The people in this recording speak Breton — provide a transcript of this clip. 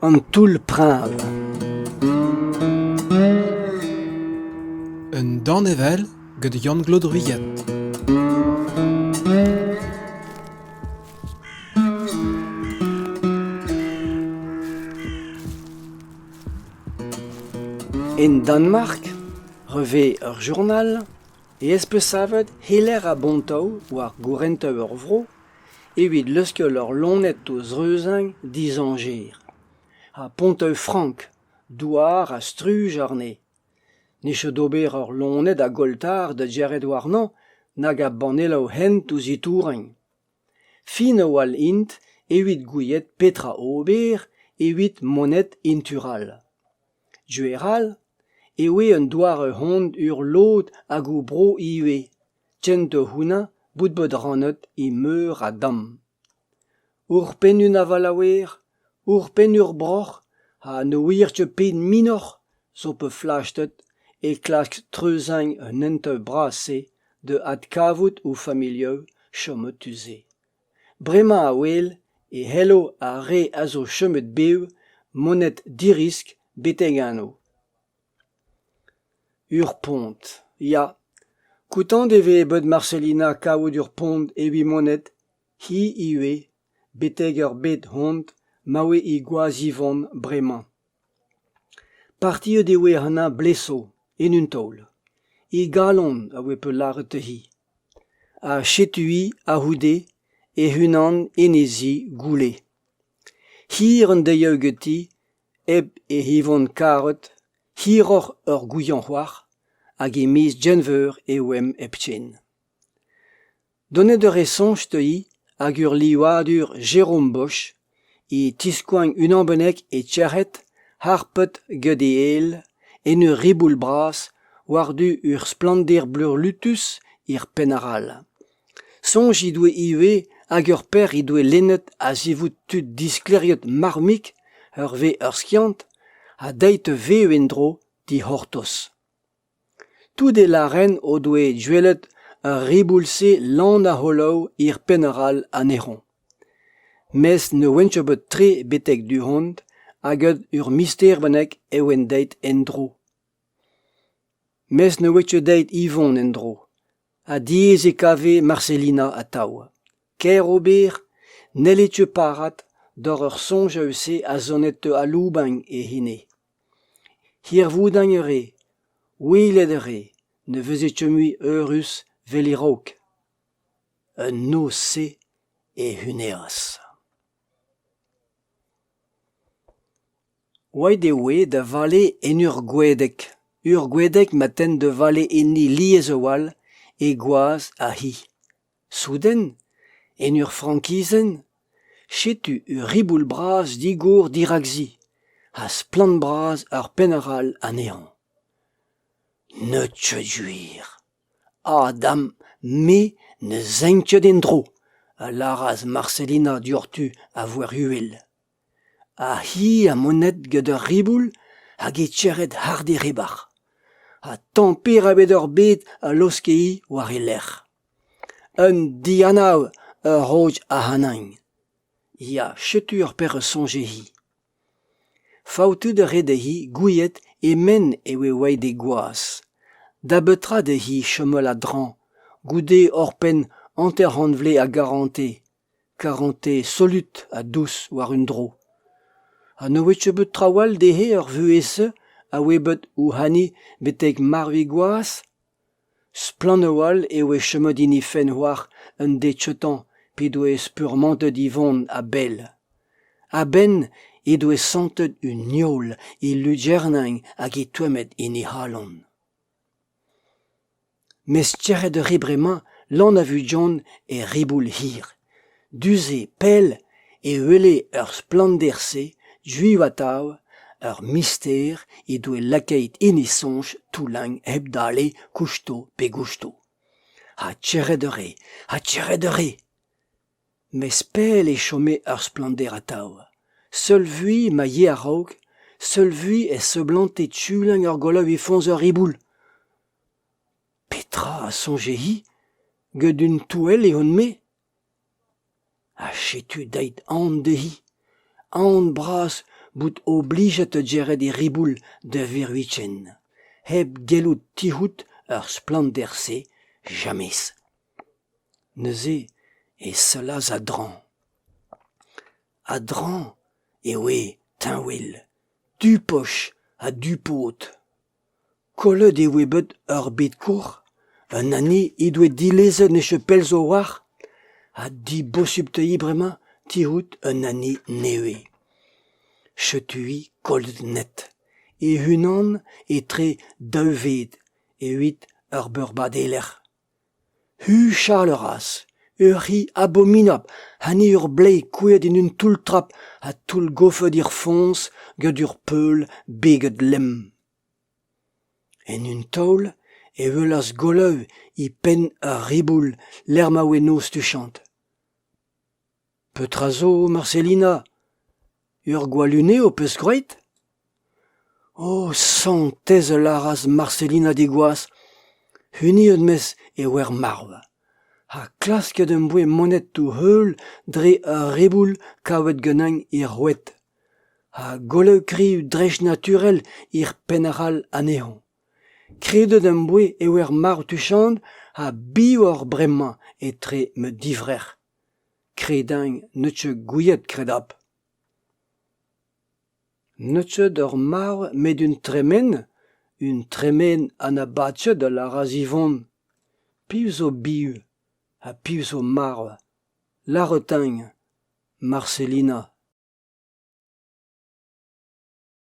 An toull-preñv. Un danevell gant Yann-Claude Ruyette. En Danemark, revez ur journal ez peus savet Heler ha Bontau war gourentañ ur vro evit leuskel ur loened o zreuzañ dizañjer. Ha Ponteu-Frank, douar ha struj àrne. Ne chom d'ober ur loened a golltar da gêret warnañ nag a banneloù-hent ouzh Itouraing. Fin-a-walc'h int evit gouiet petra ober evit monet en tu all. Gwir-all eo eo un doare-hont ur lod ag ho bro ivez, kent hounañ bout bet rannet e meur a damm. Ouc'hpenn un avalaouer Ouc'hpenn ur broc'h ha ne ouier ket pet minoc'h zo bet flastet é klask treuziñ an henteu bras-se da adkavout o familhoù chomet tu-se. Bremañ a-wel e c'hello ar re a zo chomet bev monet dirisk betek anv. Ur pont, ya. Kontant e vez bet Marselina kavout ur pont evit monet, hi ivez. betek ur bed hont ma oe he gwaz-Yvonne bremañ. Partiet e oe anezhañ bleso, en un taol. He galon a oe peulc'het dezhi. Ha setu-hi a-c'houde hec'h-unan en he zi goulle. Hir an deiziadoù ganti, hep he Yvonne karet, hiroc'h ur gouiañ c'hoar, hag e miz Genver e oemp hepken. Donet eo re soñj teuiñ ag ur livadur Jérôme Bosch e tiskoagn unan bennak e tec'hed harpet get e êl en ur riboul bras war-du ur splannder bleurlutus er penn arall. Soñj he doe ivez ag ur paer he doe lennet a-zivout tud disklêriet marv-mik ur vez ur skiant ha dezhi e vev en-dro dic'hortoz. Tout e lâren o doe gwelet ar riboul-se lan a-c'holoù hir penn-arall anezhoñ. Mes ne ouentcho bet tre betek du-hont hag ur mister bennak e oent deuet en-dro. Mes ne ouentcho deuet Yvon en-dro, ha diaes e kave Marselina atav. Ker ober n'helletcho parat doc'h ur soñj eus-se a zonet aloubagn e hini. Hirvoudañ a rez, welet a rez ne vez ket mui eürus 'vel e-raok. Un noz-se e huneas. Aet e oe da vale en ur gwedeg, ur gwedeg ma ten da vale enni lies a-walc'h, e gwaz ha hi. Souden, en ur frankizenn, setu ur riboul bras digour dirak se ha splann-bras ur penn arall anezhañ. Ne teu gwir. Ah dam, me ne zeuñ ket en-dro, a lâras Marselina dioc'htu a voer uhel. Ha hi ha monet gant ur riboul hag he tec'het hard e ribac'h. Ha tamm perak bet oc'h bet a laoske-hi war he lerc'h. Un dianav ur roch ac'hanougn. Ya, setu ur perzh soñje-hi. Faoutout a rae dezhi gouiet e-menn e oe white he gwaz. Da betra dezhi chomel a-dreñv, goude oc'hpenn hanter-c'hant vle a garante ? Karante solut ha dous war un dro. Ha ne oe ket bet traoù all dezhe er vuhez-se a oe bet ouc'h hani betek marvig gwaz ? Splannoù all e oe chomet hini fenn oac'h un dechetañ p'he doe spurmantet Yvon a-bell. A-benn he doe santet un nioul he lugerniñ hag he toemmet en he c'halon. Mes tec'het a rit bremañ Lan a Vudjon er riboul hir. Du-se pell e wele ur splannder-se juiv atav, ur mister he doe lakaet hini soñj Toullagn hep dale kousto pe gousto. Ha tec'het a rae, ha tec'het a rae. Mes pell e chome ar splannder atav, seul-vui ma yee a-raok, seul-vui e seblante Tuilin ur golaouiñ foñs ur riboul. Petra a soñje-hi get un touell ehon-me? Ha setu dait aon dezhi, aon bras bout oblijet da geret e riboul da Virvichen, hep gellout tic'hout ur splannder-se, james. Neuze e sellas a-dreñv. A-dreñv e oe teñwel, du-poch ha du-pod. Kollet e oe bet ur bed koc'h, un anne he doe dilezet ne chapel zo war, ha dibosupteiñ bremañ tizhout un anne nevez. Chetuiñ kollet net, e-unan etre daou ved, evit ur beurbad e-lec'h. Huchal a ras, ur c'hi abominabl ha ni ur blez kouezhet en un toull-trap ha toullgofet hir foñs gant ur peul beget lemm. En un taol e welas Golow e penn ur riboul lec'h ma oe noz tuchant. Petra zo, Marselina ? Ur gwalunez ho peus graet ? O santez a lâras Marselina diguas, huniet 'meus e oer marv, ha klasket em boa monetoù-heul dre ur riboul kavet ganin er roued, ha gollaoukrioù dreistnaturel er penn arall anezhoñ. Kredet em boa e oer marv tuchant ha bihour bremañ etre ma divrec'h. Kredañ n'eus ket gouiet kredapl. N'eus ket ur marv met un tremen, un tremen anabatet a lâras Yvon. Piv zo biv ha piv zo marv ? Lâret-eñ Marselina.